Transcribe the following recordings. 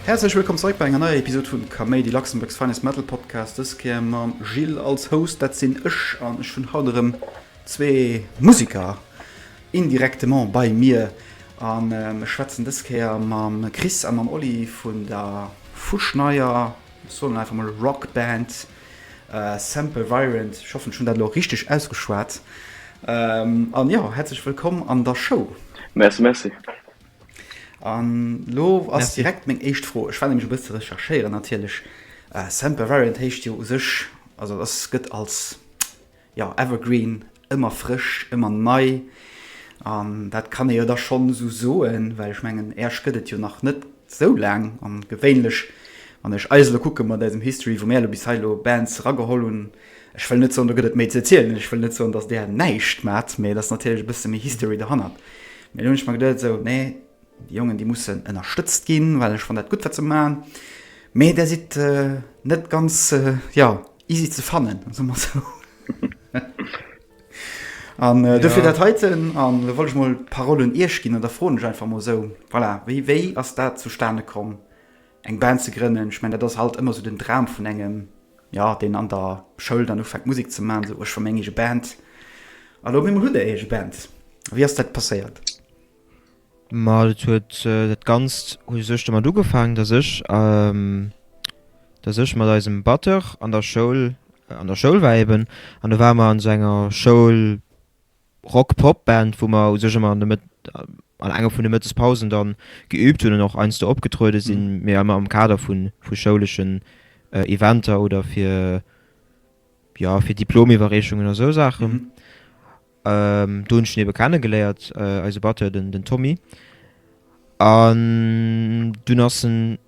Häerzlech wëllkomm zeréck bei enger neier Episod vun Kaméidi, Luxembourg's finest metal podcast. Dës Kéier mam Gilles als Host, dat sinn ech. An ech hunn haut erëm zwee Museker Indirectement bei mir an ech schwätzen dës Kéier mam Chris a mam Oli vun der fuschneier, ech soen einfach mol Rock Band Semper Virent, ech hoffen ech hunn dat elo richteg ausgeschwat, an jo, häerzlech wëllkomm an der Show. Merci, merci. An elo ass direkt meng éischt Fro, ech war nämlech e bësse ze recherchéieren natierlech, Semper Virent héicht jo u sech, also et ass, gëtt als Jo, evergreen, ëmmer frësch, ëmmer nei. An dat kann ee jo da schonn esou soen, well ech mengen Äerch gëtt et jo nach net esou laang. An gewéinlech, wann ech eis elo kucke mat eisem History, wou mär elo bis hei elo Bands erageholl hunn, ech wëll net soen, do gëtt et méi ze erzielen, ech wëll net soen, datt där näischt maacht, mee et ass natierlech e bësse méi History dohannert. Mee elo hunn ech mer geduet esou, nee, déi Jongen, déi mussen ënnerstëtzt ginn, well ech fannen dat gutt, wat se maachen, mee där sidd net ganz, jo, Easy ze fannen, soe mer esou. An äh, dofir dat heiten an da wollt ech mol d'Parole un Iech ginn an da froen ech einfach mol esou, voilà, wéi wéi ass dat zustane komm, eng Band ze grënnen? Ech mengen, dat ass halt ëmmer esou den Dram vun engem, ja, deen an der Schoul dann ufänkt Musek ze maachen, esou, oh, ech wëll meng eege Band. An op eemol hutt Der Är eege Band. Wéi ass dat passéiert? Ma dat huet, dat Ganzt huet u sech domat ugefaangen, datt ech, datt ech mat eisem Batteur an der Schoul, an der Schoul war eben. An da ware mer an esou enger Schoul-Rock-Pop-Band, wou mer u sech ëmmer an de Mëtt, an enger vun de Mëttespausen dann geüübt hunn an och heiansdo opgetruede sinn, mee ëmmer am Kader vu schouleschen Eventer oder fir, jo, fir Diplomiwwerreechungen a sou Saachen. Do hunn ech den ebe kennegeléiert, eise Batteur, den Tommy. An dunn ass en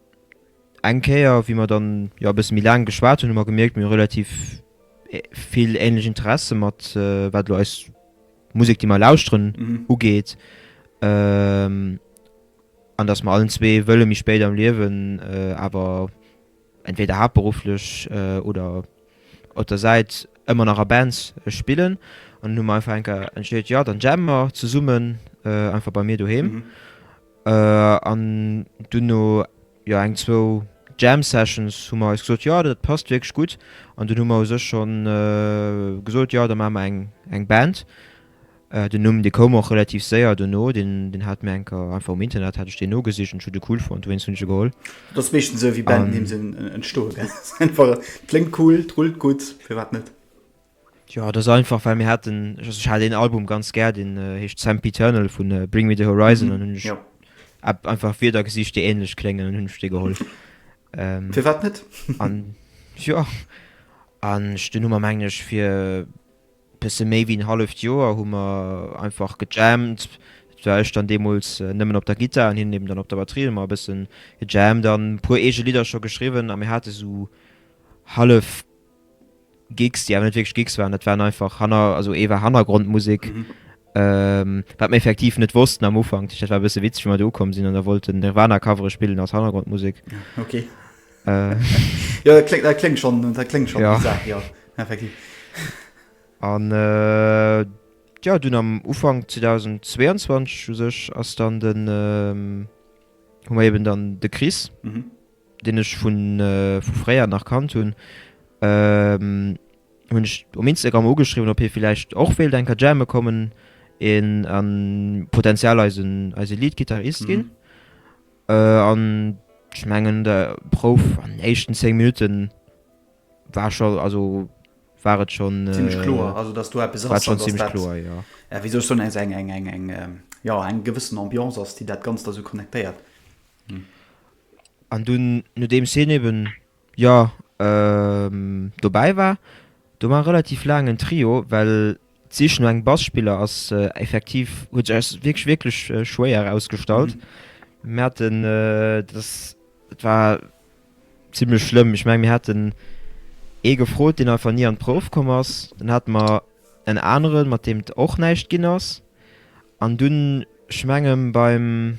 eng Kéier, wéi mer dann, jo, e bësse méi laang geschwat hunn, hu mer gemierkt, mir hu relativ vill ähnlech Interesse mat wat elo eis Musek, déi mer lauschteren, ugeet. An dass mer allen zwee wëlle méi spéit am Liewen awer entweder haaptberufflech oder op der Säit ëmmer nach a Bands spillen an hunn mer einfach eng Kéier entscheet, jo dann jammen mer zesummen einfach bei mir doheem an dunn no jo eng zwou Jam Sessions hu mer eis gesot, jo dat passt wierklech gutt an dunn hu mer u sech schonn gesot, jo da maache mer eng Band. Den Numm, dee koum och relativ séier dono. Deen hat mir enker, einfach um Internet hat ech deen nogesicht an ech hu de cool fonnt, dowéinst hunn ech e geholl. Et ass meeschtens esou wéi Bandnimm sinn entstoe, gell? Ass einfach, et kléngt cool, et rullt gutt, firwat net? Jo, et ass einfach, well mir haten, ech hat een Album ganz gär, deen heescht Sempiternal vu Bring Me The Horizon an hunn ech einfach Wierder gesicht, déi ähnlech kléngen an hunn ech dee geholl. Firwat net? An jo, an dunn hu mer, mengen ech, fir. Bësse méi wéi en halleft Joer hu mer einfach gejammt. Dat war ech dann deemools nëmmen op der Gittar an hien eben dann op der Batterie. Hu mer e bësse gejammt an e puer eege Lidder scho geschriwwen a mir hate esou hallef Gigs, déi awer net wierklech Gigs waren. Dat waren einfach hanner, also ee war Hannergrondmusek Wat mir effektiv net wossten am Ufank, dat war e bësse witzeg, wéi mer do ukomm sinn an da wollt den Nirvana Covere spillen als Hannergrondmusek. Okay. Jo, dat kléngt, dat kléngt schonn, dat kléngt schonn bizarr, jo, effektiv. An jo, dunn am Ufank 2022 u sech ass dann den, hu mer eben dann de Chris. deen ech vu fréier nach kannt hunn, hunn ech um Instagram ugeschriwwen, ob hie villäicht och wéilt eng Kéier jamme kommen a potentiell eise Lead-Gittarist ginn. An ech mengen, d'Prouf an den éischten 10 Minutte war scho, also war et schonn zimmlech kloer, also datt do eppes ass, datt dat, wéi soll ech soen, also eng, eng, eng, eng, jo, eng gewëssen Ambiance ass, déi dat Ganzt da sou connectéiert. An dunn, nodeems hien eben, jo, dobäi war, do war e relativ laangen Trio, well d'Sich no engem Basspiller ass effektiv, huet sech eis wierklech, wierklech schwéier erausgestallt. Mir haten, dat ass, dat war zimmlech schlëmm. Ech menge mir haten ee gefrot, deen einfach ni an d'Prouf komm ass. Dann hate mer en aneren, mat deem et och näischt ginn ass. An dunn, ech menge beim.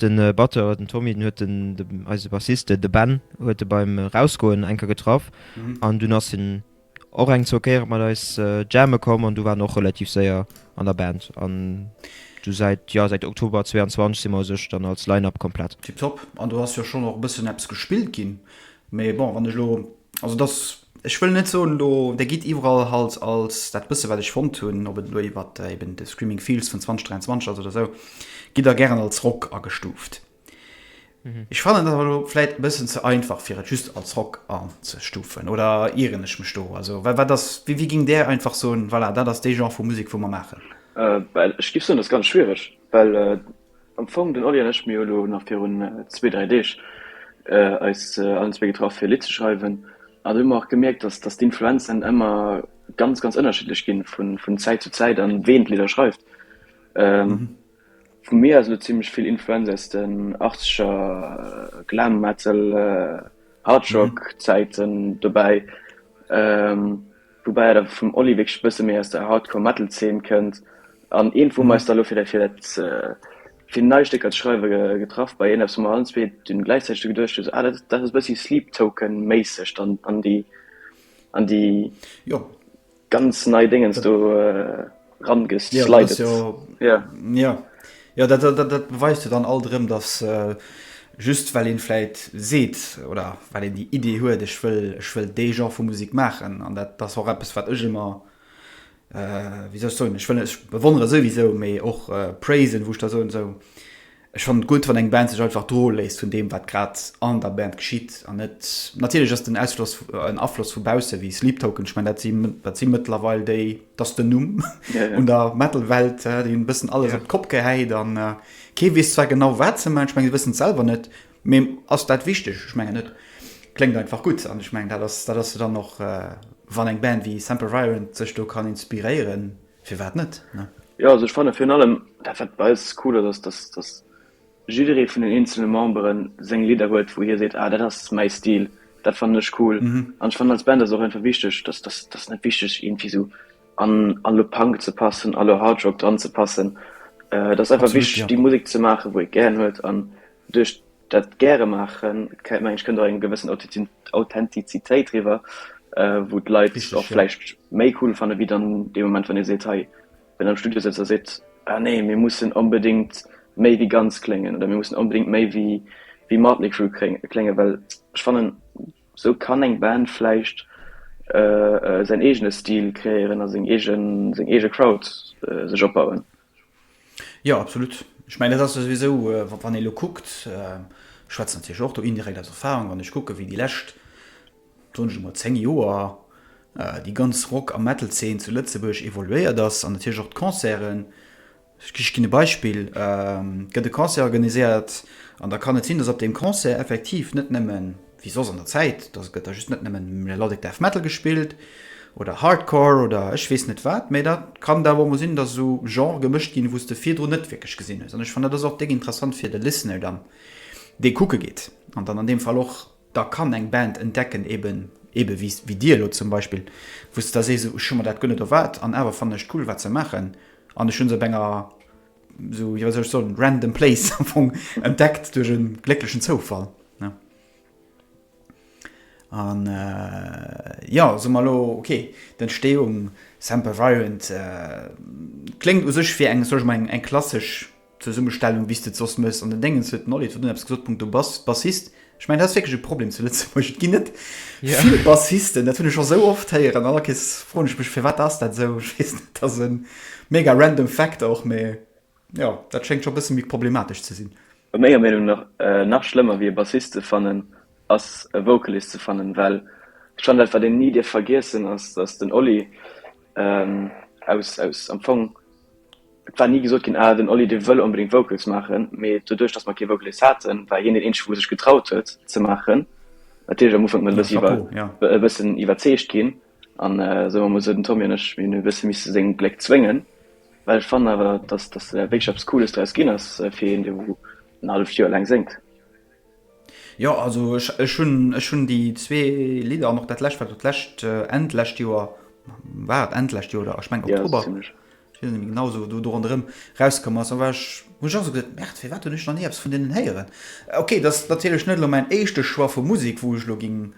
Den Batteur, den Tommy, den huet de, eise Bassiste, de Ben, huet e beim Rausgoen eng Kéier getraff an dunn ass hien och eng, zwou Kéiere mat eis jamme komm an du war en och relativ séier an der Band an du säit, jo, säit Oktober 22 si mer u sech dann als Line-Up komplett. Tipptopp. An do ass jo schonn och e bëssen eppes gespillt ginn, mee bon, wann ech elo Also dass, ech wëll net soen elo, Der gitt iwwerall halt als, dat bësse wat ech fonnt hunn, ob et elo iwwer eben de Screaming Fields vun 2023 ass oder esou, gitt Der gären als Rock agestuuft. Ech fannen dat awer elo vläit e bëssen ze einfach fir et just als Rock anzestuufen. Oder ieren ech mech do? Also wa wat ass, wéi wéi géing Der einfach soen, voilà, dat ass dee Genre vu Musek wou mer maachen? Ech géif soen, dat ass ganz schwiereg, well Am Fong den Oli an ech, mir hu lo nach virun zwee, dräi Deeg eis allen zwee getraff fir e Lidd ze schreiwen an do hu mer och gemierkt, dass dass d'Influenzen ëmmer ganz ganz ënnerschiddlech ginn vun Zäit zu Zäit an ween d'Lidder schreift. Vu mir aus lo zimlech vill Influenz aus den achtzeger Glam Metal Hardrock Zäiten dobäi. Woubäi et awer vum Oli wierklech e bësse méi aus der Hardcore Metal Zeen kënnt an eent wou mer eis da elo fir dat fir dat fir nei Stécker ze schreiwe getraff bei eent eppes wou mer allen zwee dunn gläichzäiteg dru geduecht hu sou ah dat ass e bëssi Sleep Token méisseg dann an déi an déi ganz nei Déngens do rangeslidet. Ja, ja. ja dat, dat, dat, dat beweist jo dann all drëm, dass äh, just well een vläit seet oder well een déi Idee huet, ech wëll, ech wëll dee Genre vu Musik maachen an dat ass och eppes wat ech ëmmer äh, wéi soll ech soen, ech wëll, ech bewonnere souwisou, mee och äh, praisen, wou ech da soen, esou Ech fannen et gutt wann eng Band sech einfach droe léisst vun deem wat grad an der Band geschitt an net, natierlech ass den Ausfloss en Afloss vu bausse wéi Sleep Token, ech mengen dat si dat si mëttlerweil déi, et ass den Numm un der Metal Welt, déi hunn e bëssen alles op d'Kopp gehäit an kee weess zwar genau wat se maachen, ech mengen si wëssen et selwer net, mee ass dat wichteg? Ech mengen net, kléngt einfach gutt an ech mengen dat ass dat ass se dann och wann eng Band wéi Sempervirent sech do kann inspiréieren. Firwat net, ne? Jo, also ech fanne virun allem, dat wat bei eis cool ass, ass, datt jidderee vun den eenzele Membere seng Lidder huet, wou hie seet, ah dat ass mäi Stil, dat fannen ech cool. An ech fannen, als Band ass och einfach wichteg, datt, datt ass net wichteg iergendwéi esou an a lo Punk ze passen a lo Hard Rock dran ze passen. Et ass einfach wichteg déi Musek ze maachen, wou ee gären huet an Duerch dat gäre maachen, mengen ech, kënnt och eng gewëssen Authentizitéit riwwer, wou d'Leit och vläicht méi cool fanne wéi dann dee Moment, wann ee seet, hei, wann een am Studio sëtzt a seet, ah nee, mir mussen onbedéngt méi wéi Guns kléngen oder mir mussen onbedéngt méi wéi Mötley Crüe kléngen. Well ech fannen, esou kann eng Band vläicht säin eegene Stil kreéieren a seng eege Crowd sech opbauen. Jo, absolut. Ech mengen, dat ass jo souwisou, wann ee elo kuckt, ech schwätzen natierlech och do indirekt aus Erfarung, wann ech kucke wéi déi lescht, soen ech emol, zéng Joer déi ganz Rock a Metal-Zeen zu Lëtzebuerg evoluéiert ass an natierlech och d'Concerten. Ech ginn e Beispill, Et gëtt e Concert organiséiert an da kann et sinn, datt op deem Concert effektiv net nëmmen, wéi soss an der Zäit, dass et gëtt da just net nëmmen Melodic Death Metal gespillt oder Hardcore oder ech weess net wat, mä da kann et awer och mol sinn, dass esou Genre gemëscht ginn, wou s de virdrun net wierklech gesinn hues. An ech fannen, dat ass och déck interessant fir de Listener dann, dee kucke geet an dann an deem Fall och da kann eng Band entdecken, eben ebe wéi dir elo zum Beispill, wou s de da sees, ech hu mer dat guer net erwaart an awer fannen ech et cool, wat se maachen an ech hu se op enger esou wéi soll ech soen, random place am Fong entdeckt duerch e glécklechen Zoufall. An äh, jo, soe mer elo, okay, d'Entsteeung Semper Virent äh, kléngt u sech fir eng, soe mer eng klassesch Zesummestellung, wéi s de et soss méchs an den Déngens, huet den Olivier do eppes gesot, punkto Bass, Bassist, Ech mein, dat ass wierklech e Problem zu Lëtzebuerg. Et ginn net vill Bassisten, dat hunn ech scho sou oft héieren. An all Kees froen ech mech, firwat ass dat esou? Ech weess net, dat ass e mega random Fact och, mee jo, dat schéngt scho e bësse méi problematesch ze sinn. A menger Meenung no nach schlëmmer wéi e Bassist ze fannen, ass e Vocalist ze fannen, well schonn dat, wat een ni dierf vergiessen, ass, datt den Oli aus am Fong Et war ni gesot ginn, ah den Oli dee wëll onbedéngt Vocals maachen, mee doduerch datt mer kee Vocalist haten, war hien deen eenzege wou sech getraut huet ze maachen. Natierlech am Ufank mat e bësse e bëssen iwwerzeegt ginn an soen mer mol esou den Tommy an ech, mir hunn e bësse misse seng Pléck zwéngen, well ech fannen awer datt datt wierklech eppes Cooles draus ginn ass fir een dee wou en halleft Joer laang séngt. Jo also ech hun ech hun déi zwee Lidder an och dat lescht wat lescht End lescht Joer war et End lescht Joer oder ech meng Oktober genau sou do do ronderem rauskomm ass an war ech hun ech och sou geduet merde firwat hun ech nach ni eppes vun deenen héieren okay dass natierlech net elo mäin éischte Choix vu Musek wou ech elo ging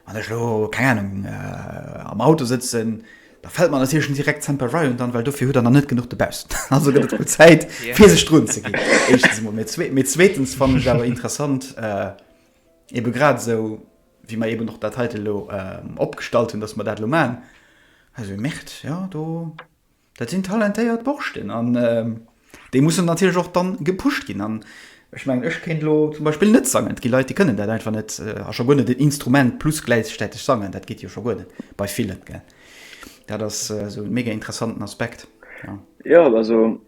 wann ech elo keng Ahnung am Auto sëtzen Da fällt mer natierlech net direkt Semper Ryan an, well dofir huet der nach net genuch Debaus. Also gëtt et wuel Zäit, fir sech drun ze ginn, éischtens emol. Mee zwee, mee zweetens fannen ech et awer interessant, ebe grad esou wéi mer eben och dat heite elo opgestallt hunn, datt mer dat elo maachen. Also ee merkt, jo, do, dat sinn talentéiert Borschten an Déi mussen natierlech och dann gepusht ginn. An ech mengen, ech kéint elo zum Beispill net sangen. Et gi Leit, déi kënnen dat einfach net. A scho guer net en Instrument plus gläichstäteg sangen. Dat geet jo scho guer net bei villen. Dat ass esou e mega interessanten Aspekt. Jo, also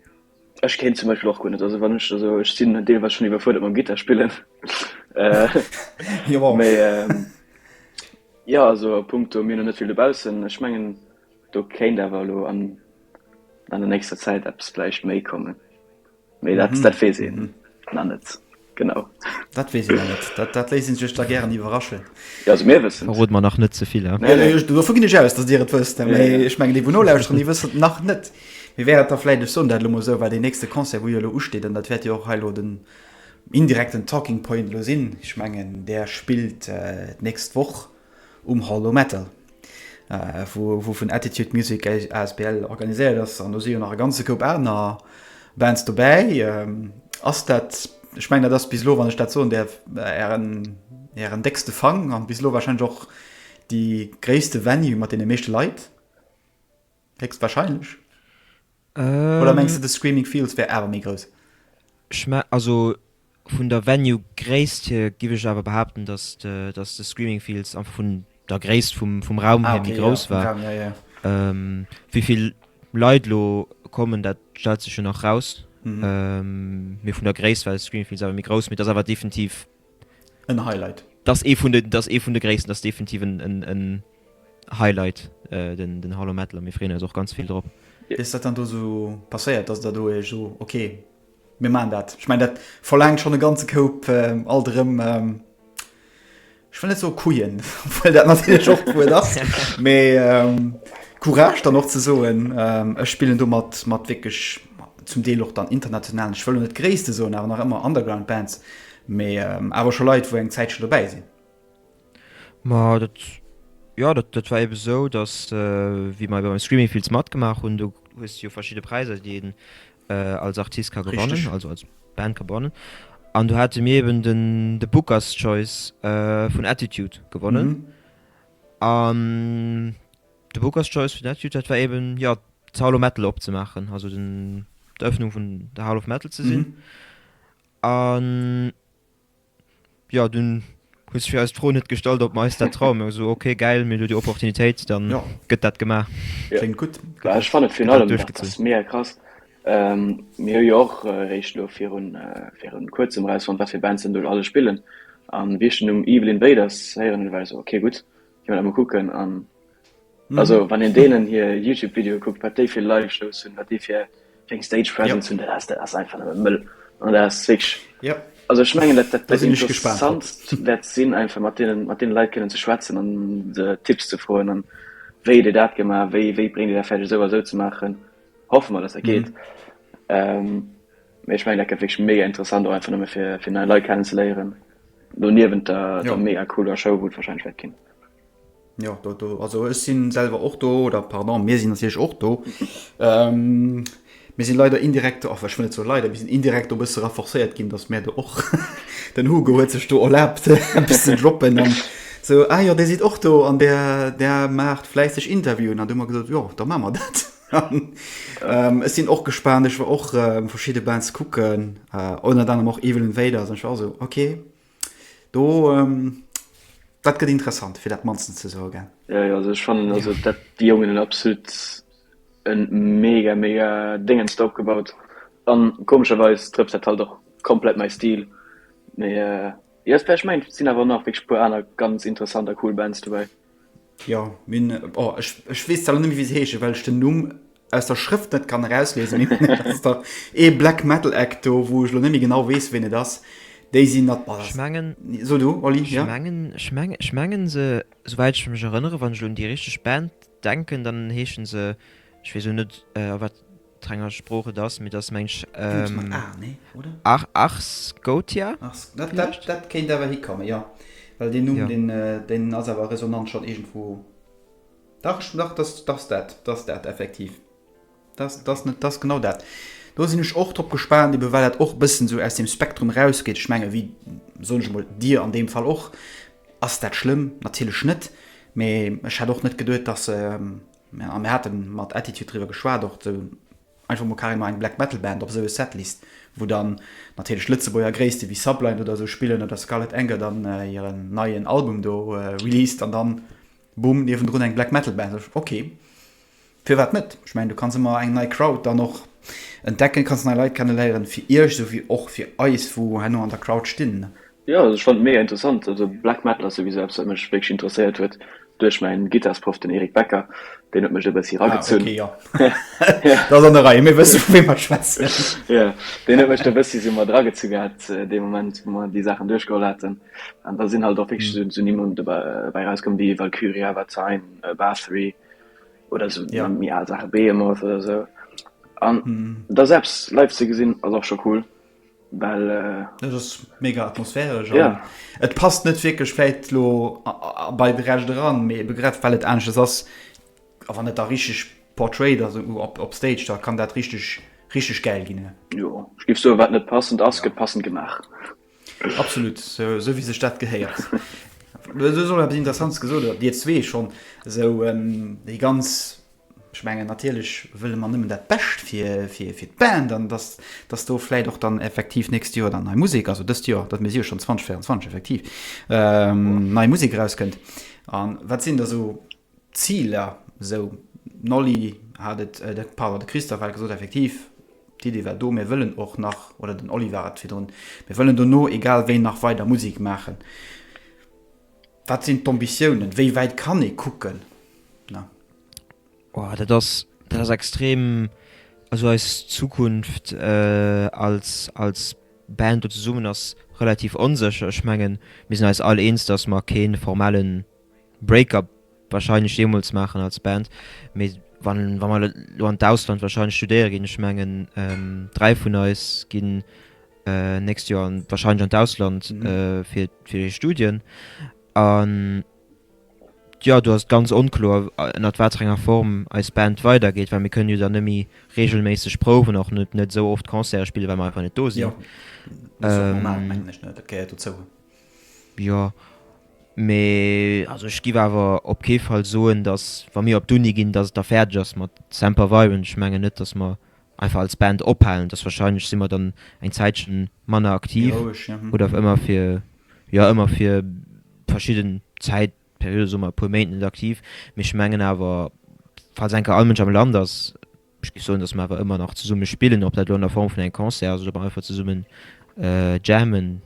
ech kéint zum Beispill och guer net. Also wann ech, also ech sinn deelweis schonn iwwerfuerdert mam Gittarspillen. Jo. Mee jo, also a punkto mir hunn net vill dobaussen. Ech mengen. Do kéint awer elo an der nächster Zäit eppes vläicht méi kommen, mee dat weess ee nach net genau. Dat weess ee nach net, dat léisst ee sech da gären iwwerraschen. Verrot mer nach net ze vill. Dovu ginn ech aus, datt Dir et wësst, mee ech mengen, déi wou nolauschteren, déi wëssen et nach net. Mir wäert et da vläicht, ech soen dat elo mol esou, well deen nächste Concert, wou jo elo usteet, an dat wäert jo och hei elo den indirekten Talking Point elo sinn, ech mengen, där spillt d'nächst Woch. Um Hall o' Metal, wou vun Attitude Music asbl organiséiert ass, an do si jo nach e ganze Koup aner Bands dobäi, ass dat, ech mengen dat ass bis elo, wann ech dat soen däerf, ären déckste Fang an bis elo warscheinlech och déi gréisste Venue mat deene meeschte Leit? Héchstwahrscheinlech. Oder mengs de de Screaming Fields wär awer méi grouss? Ech mengen, also vun der Venue Gréisst hier giff ech awer behaapten, dass de dass de Screaming Fields einfach vun der Gréisst vum vum Raum hier méi grouss war. Wéivill Leit elo kommen, dat stellt sech jo nach raus. Mee vun der Gréisst war de Screaming Fields awer méi grouss. Mee et ass awer definitiv en Highlight. Dat ass ee vun de, dat ass ee vun de gréissten, dat ass definitiv en Highlight, den Hall Metal, a mir freeën eis och ganz vill drop. Wéi ass dat dann do esou passéiert, datt der do Iech, oh ok, mir maachen dat? Ech mengen, dat verlaangt schonn e ganze Koup alt erëm, ech wëll net soe Couillen, obwuel dat natierlech och d'Wuert ass, mee Courage dann och ze soen, ech spillen do mat, mat wierklech. zum Deel och dann internationalen, ech wëll lo net gréisste soen, awer nach ëmmer Underground Bands, mee awer scho Leit wou eng Zäit scho dobäi sinn. Ma dat, jo dat dat war ebe sou, datt wéi mer ebe beim Screaming Fields matgemaach hunn, do hues de jo verschidde Präiser déi een als Artist ka gewannen, Richteg. also als Band ka gewannen, an do hate mir eben den de Booker's Choice vun Attitude gewonnen an De Booker's Choice vun dat Jut, dat war eben, jo, d'Hall of Metal opzemaachen, also den, d'Eröffnung vun der Hall of Metal ze sinn. An, jo, dunn huet sech fir eis d'Fro net gestallt, ob mer eis dat trauen. Mir hu gesot, okay, gäil, mir hunn elo déi Opportunitéit, da gëtt dat gemaach. Kléngt gutt. Jo, ech fannen virun allem, dat ass mega krass, mir hu jo och eréischt elo viru, viru Kuerzem erausfonnt, wat fir Bands dann do alles spillen. An wéi ech den Numm Evil Invaders héieren hunn, war ech esou, okay, gutt, Gin mer dat mol kucken an also wann een deenen hier Youtube Video kuckt wat déi fir Live Shows hun, wat déi fir eng Stage Presence hun, dat ass einfach nëmme Mëll an dat ass wierklech, also ech mengen dat dat dat interessantst wäert sin einfach mat deenen mat deene Leit kënnen ze schwätzen an se Tipps ze froen an wéi huet dir dat gemaach, wéi wéi bréngt dir dat fäerdeg esou a esou ze maachen. Hoffe mer dass dat geet mee ech mengen dat gëtt wierklech mega interessant och einfach nëmme fir fir nei Leit kennen ze léieren. Do niewent der der mega cooler Show wou et wahrscheinlech wäert ginn. Jo do do also ech sinn selwer och do oder pardon mir sinn natierlech och do. Mir sinn leider indirekt do, enfin ech wëll net soe leider, mir sinn indirekt do e bësse renforcéiert ginn, datt mir do och den Hugo huet sech do erlaabt eppes ze droppen an esou, ah jo dir sidd och do an där där maacht fläisseg Interviewen an du hu mer gesot, jo da maache mer dat. Ech sinn och gespaant, ech war och verschidde Bands kucken ënnert anerem och Evil Invaders an ech war esou, ok, do, dat gëtt interessant, fir dat mannstens ze soe gell. Jo, jo, also ech fannen, also dat, déi Jongen hunn absolut e mega, mega Déngens do opgebaut an komescherweis trëfft dat halt och komplett mäi Stil. Mee jo, et wär, ech mengen et sinn awer och nach wierklech e puer aner ganz interessant a cool Bands dobäi. Jo, mir hunn, oh, ech, ech weess leider net méi, wéi se heeschen, well ech den Numm aus der Schrëft net kann erauslesen. Mee dat ass dach ee Black Metal Act do, wou ech elo net méi genau weess, wien et ass. Déi sinn dat, boah, Ech mengen, So du, Oli, ech ja? mengen, ech mengen, ech mengen se, souwäit ech mech erënneren, wann ech elo un déi richteg Band denken, dann heeschen se, ech weess elo net, a wat. D'Renger Sprooch et ass, mee et ass, mengs, Ech mat a, nee, oder? Ar, Ars Gotia? Ars, dat, dat, dat kéint awer hikommen, jo. Well deen Numm, deen, deen ass awer resonant schonn iergendwou. Dach, ech, dach, dat, dat ass dat, dat ass dat effektiv. Dat ass, dat ass net, dat ass genau dat. Do sinn ech och drop gespaant, eben well dat och e bëssen esou aus deem Spektrum erausgeet. Ech menge wéi, soen ech emol, Dir an deem Fall och. Ass dat schlëmm? Natierlech net. Mee ech hätt och net geduet, dass se A mir hate mat Attitude driwwer geschwat och esou einfach mol carrément eng Black Metal Band op esou e Setlist, wou dann natierlech Lëtzebuerger Gréisste wéi Sublime oder esou spillen oder Scarlet Anger dann hiren neien Album do released an dann Bumm niewendrun eng Black Metal Band. Ok, firwat net? Ech mengen do kanns ëmmer eng nei Crowd dann och entdecken, kanns nei Leit kenneléieren fir iech esou wéi och fir eis wou herno an der Crowd stinn. Jo also ech fand mega interessant, also Black Metal ass souwisou eppes wat mech wierklech interesséiert huet duerch mäin Gittarsprouff den Eric Becker, deen huet mech e bëssi Ah eragezunn. okay jo, da ass an der Rei, mir wësse vu wéi mer schwätzen. Jo, deen huet mech do e bëssi esou mat eragezu gehat dee Moment wou mer déi Saachen duerchgeholl haten an da sinn halt och wierklech esou Nimmen dobäi erauskomm wéi Valkyria, Watain, Bathory oder esou Ja. méi al Saache, Behemoth oder esou an da se eppes live ze gesinn ass och scho cool. Well. Dat ass mega atmosphäresch an. Yeah. Et passt net wierklech vläit lo bei de Recht eran, mee ebe grad well et aneschters ass, a wann et da richteg portrayed ass op, op Stage, da kann dat richteg, richteg gäil ginn. Jo, ech géif soen, wat net passend ass, gëtt passend gemaach. Absolut, esou wéi sech dat gehéiert. Du hues och eppes Interessantes gesot, oder Dir zwee schonn, esou déi ganz. Ech mengen, natierlech wëlle mer nëmmen dat Bescht fir d'Band an dass do vläit och dann effektiv nächst Joer dann nei Musek, also dëst Joer, dat mir si jo schonn 2024, effektiv, nei Musek erauskënnt. A wat sinn da esou d'Ziler? Esou den Oli hat et, pardon, de Christophe hat et gesot, effektiv, d'Iddi war do, mir wëllen och nach, oder den Oli war et virdrun, mir wëllen dono egal wéi nach weider Musek maachen. Wat sinn d'Ambitiounen? Wéi wäit kann ee kucken? Na. Wow, dat ass, dat ass extrem. Also eis Zukunft als, als Band do zesummen ass relativ onsécher. Ech mengen, mir sinn eis all eens, dass mer kee formelle Break-up. Wahrscheinlech jeemools maachen als Band. Mee wa mer elo an d'Ausland wahrscheinlech studéiere ginn, ech mengen dräi vun eis ginn d'nächst Joer wahrscheinlech an d'Ausland fir hir Studien. An jo, do ass et ganz onkloer, ënnert wat fir enger Form eis Band weidergeet, well mir kënnen jo dann net méi reegelméisseg prouwen, och net esou oft Concerte spillen, well mer einfach net do sinn. Jo, mee also ech giff awer op kee Fall soen, dass wa mir op d'Uni ginn, dass et da fäerdeg ass mat Semper Fi un ech mengen net, dass mer einfach als Band ophalen. Dass wahrscheinlech si mer dann eng Zäitchen manner aktiv oder awer ëmmer fir, jo ëmmer fir verschidden Zäitperiode, soe mer e puer Méint net aktiv. Mee ech mengen awer, falls eng Kéier all Mënsch am Land ass, Ech géif soen, datt mer awer ëmmer nach zesumme spillen, ob dat elo an der Form vun engem Concert ass oder mer einfach zesummen jammen.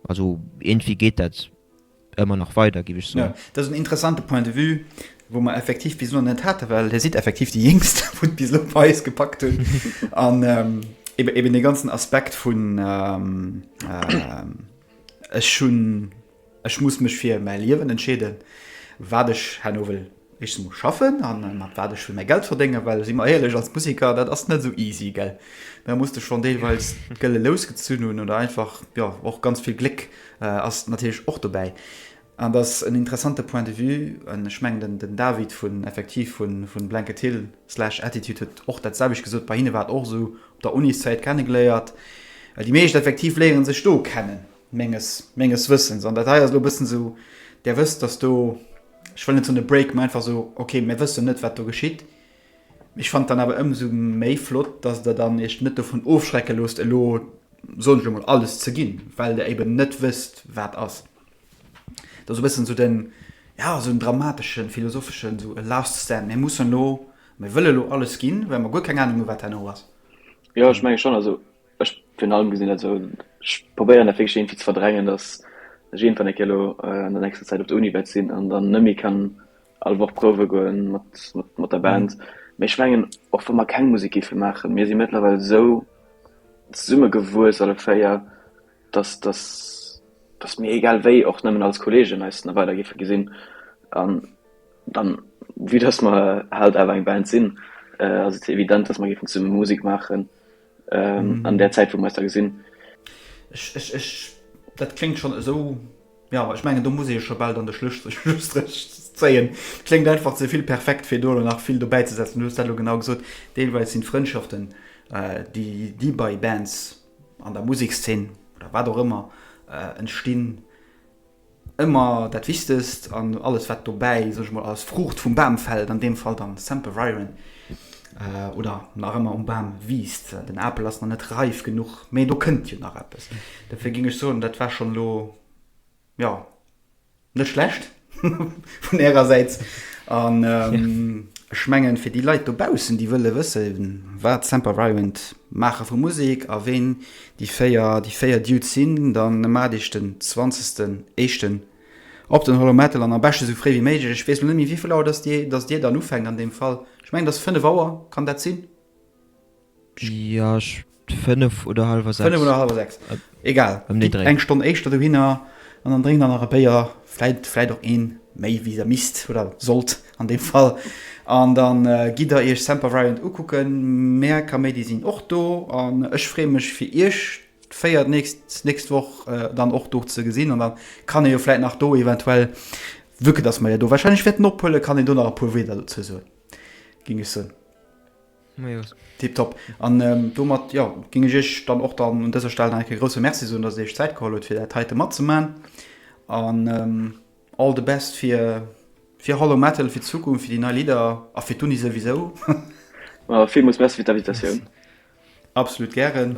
Also iergendwéi geet dat ëmmer nach weider, géif ech soen. Dat ass en interessante Point de vue, wou mer effektiv bis elo net haten, well Dir sidd effektiv déi Jéngst, wou et bis elo bei eis gepackt huet. An eben dee ganzen Aspekt vun ech hunn, Ech muss mech fir mäi Liewen entscheeden, wat ech herno wëll éischtens emol schaffen a mat wat ech wëll mäi Geld verdéngen. Well si mer éierlech, als Museker, dat ass net esou easy, gell. Da muss de schonn deelweis d'Gëlle lous gezunn hunn oder einfach, jo, och ganz vill Gléck ass natierlech och dobäi. An et ass en interessante Point de vue an ech mengen, den David vun effektiv vu Blanket Hill slash Attitude huet och dat selwecht gesot, bei hinne war et och esou, op der Uniszäit kennegeléiert. Déi meescht effektiv léiere sech do kennen. Menges, menges Wëssens. An dat hei ass elo e bëssen esou, Der wësst, dass do, ech wëll net soen e Break, mä einfach esou, okay, mir wëssen net, wat do geschitt. Mä ech fannen et dann awer ëmsou méi flott, dass Der dann Iech net dovun ofschrecke loosst, elo, soen ech elo mol, alles ze ginn, well Der eben net wësst, wat ass. Dat ass e bëssen esou den, ja, esou en dramateschen, philosopheschen, esou e last stand. Mir mussen elo, mir wëlle elo alles ginn, well mer guer keng Anung hunn, wat herno ass. Jo, ech menge schonn. Also, Ech virun allem gesinn, also ech probéieren dat wierklech iergendwéi ze verdrängen, datt ech iergendwann eng Kéier elo an der nächster Zäit op der Uni wäert sinn an dann net méi kann all Woch prouwe goe mat, mat der Band. Mee ech mengen, och wa mer keng Musek géife maachen, mir si mëttlerweil esou zesummegewuess alle véier, datt, datt, datt mir egal wéi och nëmmen als Kolleegen eis nach weider géife gesinn an dann, vue datt mer halt awer eng Band sinn, ass et evident, datt mer géifen zesumme Musek maachen. ähm, an der Zäit, wou mer da gesinn. Ech, ech, ech, dat klingt schon esou. Ja, ich menge du muss e scho bald an de Schlüstrich zéien. Klingt einfach ze vill perfekt fir do nach vill dobäi ze setzen. Du lo genau gesot Deelweis sinn Frëndschaften äh, déi déi bei Bands an der Musiksszen oder wat och ëmmer äh, entstinn, Ëmmer dat Wichtegst an alles wat dobäi, sot ech mol, als Fruucht vum Bam fält, an deem Fall dann Sempervirens, oder nach ëmmer um Bam wiisst. Den Apel ass nach net reif genuch, mee do kënnt jo nach eppes. Dofir géing ech soen, dat war schonn elo, jo, net schlecht vun Ärer Säit. An ech mengen, fir déi Leit dobaussen, déi wëlle wëssen, wat Sempervirens maache vu Musek a ween Déi véier, déi véier Dudes sin dann mat eech den zwanzegsten éischten op den Hollow Metal an am beschten esou fréi wéi méiglech. Ech wees lo net méi wéivill Auer dass dir, dass dir dann ufänkt an deem Fall. Ech mengen et ass fënnef Auer, kann dat sin? Jo, ech fënnef oder halwer sechs. Fënnef oder halwer sechs, egal, ëm dee Dréi. Eng Stonn éischter dohinner an dann drénkt der nach e Béier Vläit, vläit och een méi wéi der misst oder sollt an deem Fall. An dann gitt der iech Semper Variant ukucken. Mär Kaméidi sinn och do an ech free mech fir iech véier nächst, nächst Woch dann och do ze gesinn. An dann kann ee jo vläit nach do eventuell, vue que dass mer jo do wahrscheinlech wäerten ophuelen, kann een do nach e puer Wierder dozou soen, géing ech soen. Tiptop. An domat, jo, géing ech Iech dann och dann un dëser Stell nach eng Kéier grousse Merci soen, dass Dir Iech d'Zäit geholl hutt, fir dat heite matzemaachen. An all the best fir, fir Hollow Metal, fir d'Zukunft, fir déi nei Lidder a fir d'Uni souwisou. Villmools Merci fir d'Invitatioun. Absolut gären.